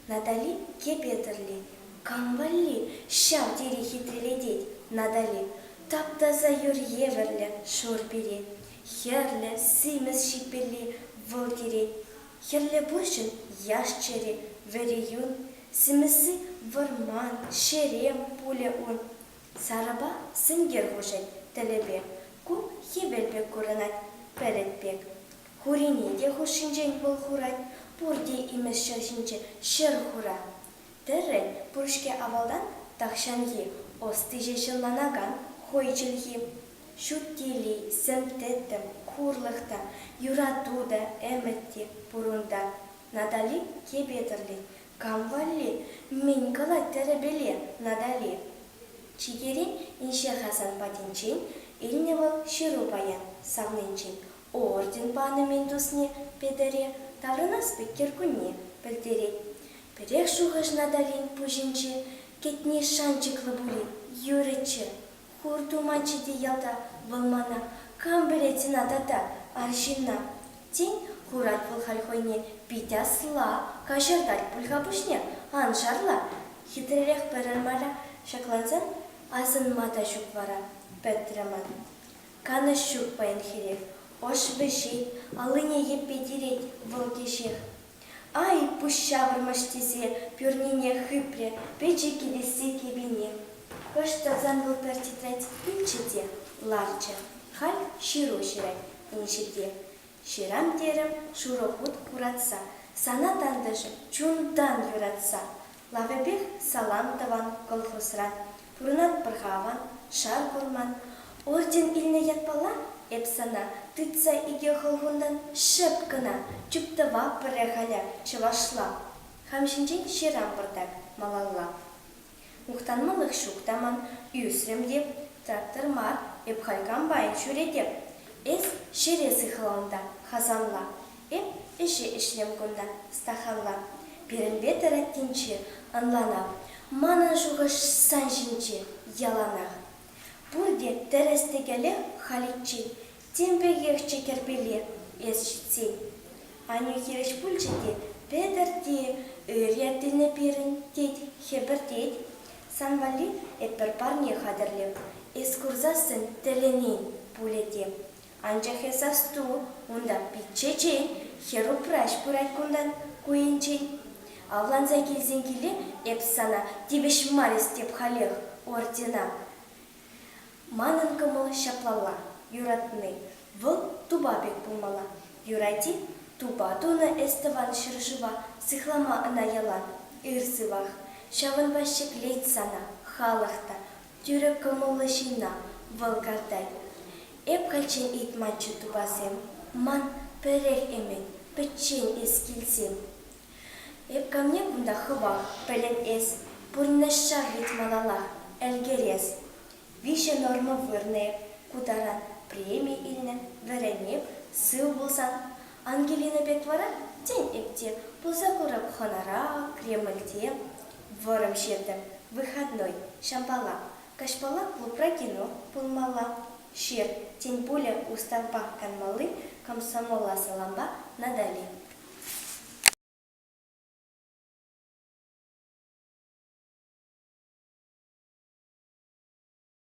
Натали Кепетӗрли, кам валли ҫав тери хитрелетет Натали? Тап-таса юр евӗрлӗ шур пире, хӗрлӗ, симӗс ҫипелли вӑл тире. Хӗрлӗ пурҫӑн яш чӗри, вӗри юн, симӗсси вӑрман, ҫерем пулӗ ун. Сарӑпа сенкер хушать тӗлӗпе. Ку хӗвел пек курӑнать, пӗлӗт пек. Хурине те хушшинчен вӑл хурать, пурте имӗш ҫӗр ҫинче ҫӗр хура. Тӗррӗн пур-ҫке авалтан тахҫанхи ӑстиҫе ҫӑлланакан хӑй чӗлхи. Ҫут тили, сӗм-тӗттӗм, хурлӑх та, юрату та, ӗмӗт те пурунта. Натали кепе тӗрлет, Кам валли? Мӗн калать тӗрӗпеле Натали? Чикере инҫе-ха сан патӗнчен, илнӗ вӑл ҫыру паян савнинчен. Орден панӑ мӗн тусне Петӗре, таврӑнас пек кӗркунне пӗлтерет. Пӗрех шухӑш Наталин пуҫӗнче, кӗтни шанчӑклӑ пулин, юрӗччӗ. Пур туманччӗ те ялта вӑл мана. Кам пӗлет ӑна тата, арҫынна? Тен, курать вӑл халь хӑйне, пит асла, каҫӑртать пуль-ха пуҫне, ан шарла. Хитререх пырӑр мара, ҫаклансан асӑнма та ҫук вара, пӗтрӗ ман. Канӑҫ ҫук паянхирех. Ӑш вӗҫет, аллине йӗппе тирет вӑл кӗҫех. Ай, пуҫ ҫавӑрмӑш тесе пӳрнине хыпрӗ пӗчӗк кӗтессе кӗпине. Хӑш тӑрсан вӑл пӗр тӗтрет пӳлчӗ те ларчӗ. Халь ҫыру ҫырать инҫе те. Ҫырам терӗм шурӑ хут хуратса, сана тантӑшӗ чунтан юратса. Лавӗпех салам тӑван колхозра пурӑнатпӑр-ха аван, шав курман. Орден илнӗ ятпала эп сана тытса икӗ хӑлхунтан шӑп кӑна чуптӑва пӗрре халӗ чӑвашла, хам ҫинчен ҫырам пӑртак малалла. Мухтанмалӑх ҫук та ман, ӳсрӗм те, трактор мар, эп халь комбайн ҫӳретӗп. Эс ҫӗре сыхла унта, Хасанла, Эп ӗҫе ӗҫлем кунта, Стаханла. Пирӗнпе тӑрӑттинче ӑнланав. Манӑн шухӑш сан ҫинче яланах. Пурте тӗрӗс-тӗкелех халиччен, тем пекехчӗ кӗрпеле эс ҫитсен. Аннӳ хирӗҫ пулчӗ те, Петӗр те ырӑ пӗлнӗ пирӗн, тет, хӗпӗртет. Сан валли эп пӗр парне хатӗрлем, эс курсассӑн тӗлӗнен пулӗ те. Анчах эс асту, унта пит чечен, хӗр-упраҫ пырать кунтан ку енчен. Авланса килсен киле эп сана тивӗҫ мар эстеп халех, ордена. Манӑн кӑмӑл ҫаплалла, юратни вӑл тупа пек пулмалла. Юрать-и? Тупа тунӑ эс тӑван ҫӗршыва, сыхлама ӑна ялан ыр сывах. Ҫавӑнпа ҫӗклет сана халӑх та, Тӳрӗ кӑмӑллӑ ҫынна вӑл картать. Эп кайччен ыйтманччӗ тупасем. Ман пӗрех ӗмӗт, пӗччен эс килсем. Эп камне кунта хӑвах, пӗлен эс, Пурнӑҫра вӗт малалах ӗлкӗрес. Виҫӗ норма вырнӑ эп, ку таран преми илнӗ, вӗрен эп, сыв пулсан. Ангелина пек вара, тен, эп те пулса курӑп хӑнара, Кремльте. Вӑрӑм ҫертӗм, выходной, ҫампала, каҫпала клубра кино пулмалла, ҫыр, тен пулӗ Уставпа канмалли комсомола салампа Натали.